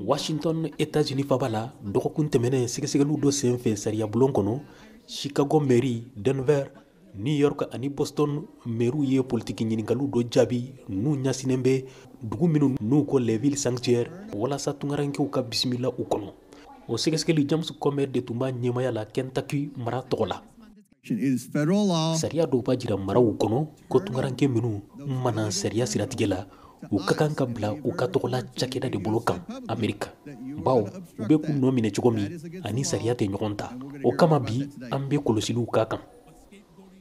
washington etats-unis faaba la dɔgɔkun tɛmɛnen sɛgɛsɛgɛliw dɔ sen fɛ sariyabulon kɔnɔ chicago mairie denver new york ani boston mairew ye politiki ɲininkaliw dɔ jaabi n'u ɲasinen bɛ dugu minnu n'u ko les villes sanctuaires walasa tungarankew ka bisimila u kɔnɔ o sɛgɛsɛgɛli james comer de tun b'a ɲɛmaya la kentucky mara tɔgɔ la Sariya dɔw b'a jira maraw kɔnɔ ko tunkaranke minnu mana sariya siratigɛ la, u ka kan ka bila u ka tɔgɔ la cakɛda de bolo kan Amerika, bawo u bɛ k'u nɔ minɛ cogo min a ni sariya tɛ ɲɔgɔn ta. O kama bi an bɛ kɔlɔsiliw k'a kan.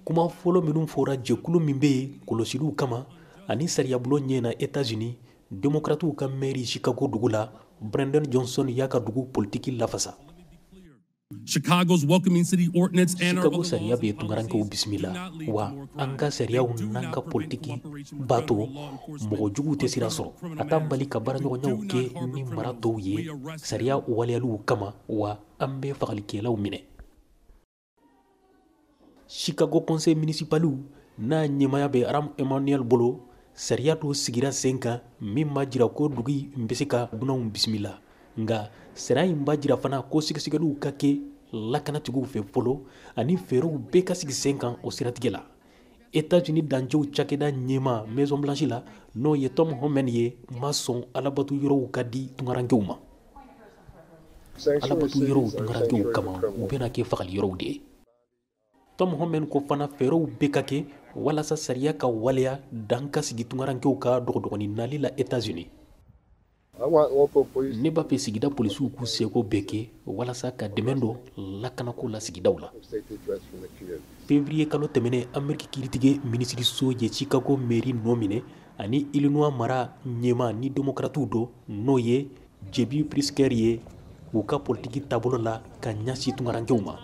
Kuma fɔlɔ minnu fɔra jɛkulu min bɛ yen kɔlɔsiliw kama ani sariyabulon ɲɛ na Etats Unis, demokratiw ka maire Chicago dugu la, Brandon Johnson y'a ka dugu politiki lafasa. Chicago's welcoming city ordinance and our Chicago sariya bɛ tunkarankew bisimila wa an ka sariyaw n'an ka politiki b'a to mɔgɔ juguw tɛ sira sɔrɔ a t'an bali ka baaraɲɔgɔnyaw kɛ ni mara tɔw ye sariya waleyaliw kama wa an bɛ fagalikɛlaw minɛ Chicago conseil municipaliw n'a ɲɛmaya bɛ Rahm Emanuel bolo, sariya dɔ sigira sen kan min b'a jira ko dugu in bɛ se ka dunanw bisimila, nka sariya in b'a jira fana ko sɛgɛsɛgɛliw ka kɛ lakanatigiw fɛ fɔlɔ ani fɛɛrɛw bɛɛ ka sigi sen kan o siratigɛ la. Etats-Unis dancɛw cakɛda ɲɛmaa Maison Blanche la, n'o ye Tom Homan ye, ma sɔn alabato yɔrɔw ka di tunkarankew ma. Alabato yɔrɔw tunkarankew kama, u bɛna kɛ fagali yɔrɔw de ye. Tom Homan ko fana fɛɛrɛw bɛ ka kɛ walasa sariya ka waleya dan ka sigi tunkarankew ka dɔgɔdɔgɔnin nali la Etats-Unis. ne b'a fɛ sigida polisiw k'u seko bɛɛ kɛ walasa ka dɛmɛ don lakanako la sigidaw la fevriye kalo tɛmɛnen ameriki kiiritigɛ minisiriso ye chicago meri nɔ minɛ ani illinois mara ɲɛmaa ni demokratiw dɔ n'o ye jb pritzker ye u ka politiki taabolo la ka ɲasi tunkarankew ma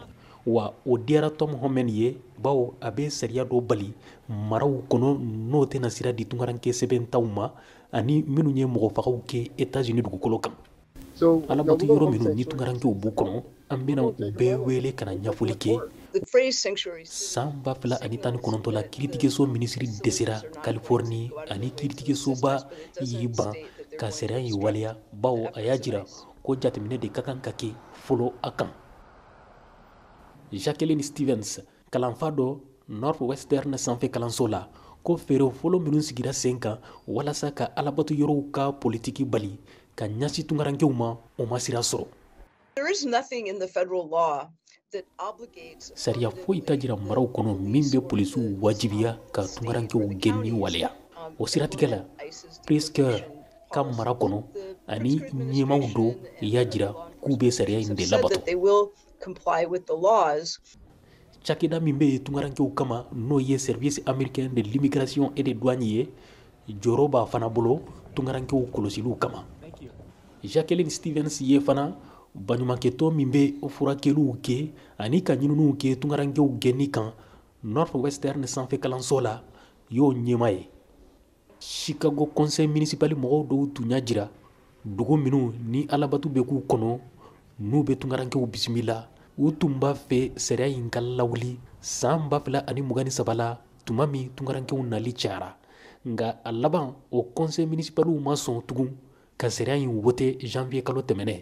wa o diyara tom homan ye bawo a bɛ sariya dɔ bali maraw kɔnɔ n'o tɛna sira di tunkaranke sɛbɛntanw ma ani minnu ye mɔgɔfagaw kɛ etazini dugukolo kan alabato yɔrɔ minnu ni tunkarankew b'u kɔnɔ an bɛna u bɛɛ wele ka na ɲafɔli kɛ san ba fila ani tan ni kɔnɔntɔn la kiiritigɛso minisiri dɛsɛra californie ani kiiritigɛsoba y'i ban ka sariya in waleya bawo a y'a jira ko jateminɛ de ka kan ka kɛ fɔlɔ a kan jacqueline stevens kalanfa dɔ Northwestern sanfɛ kalanso la ko fɛɛrɛ fɔlɔ minnu sigira sen kan walasa ka alabato yɔrɔw ka politiki bali ka ɲɛsin tungarankew ma o ma sira sɔrɔ sariya foyi t'a jira maraw kɔnɔ min bɛ polisiw wajibiya ka tungarankew gɛnni waleya o siratigɛ la Pritzker ka mara kɔnɔ ani ɲɛmaaw dɔ y'a jira k'u bɛ sariya in de labato Cakɛda min bɛ yen tungarankew kama n'o ye service américain de l'immigration et des douanes ye jɔyɔrɔ b'a fana bolo tungarankew kɔlɔsiliw kama Jacqueline Stevens ye fana baɲumankɛtɔn min bɛ furakɛliw kɛ ani ka ɲininiw kɛ tungarankew gɛnni kan Northwestern sanfɛ kalanso la y'o ɲɛmaa ye Chicago conseil municipal mɔgɔw dɔw tun y'a jira dugu minnu ni alabato bɛ k'u kɔnɔ n'u bɛ tungarankew bisimila u tun b'a fɛ sariya in ka lawuli san ba fila ani mugan ni saba la tuma min tungarankew nali cayara nka a laban o conseil municipaliw ma sɔn tugun ka sariya in wote janvier kalo tɛmɛnen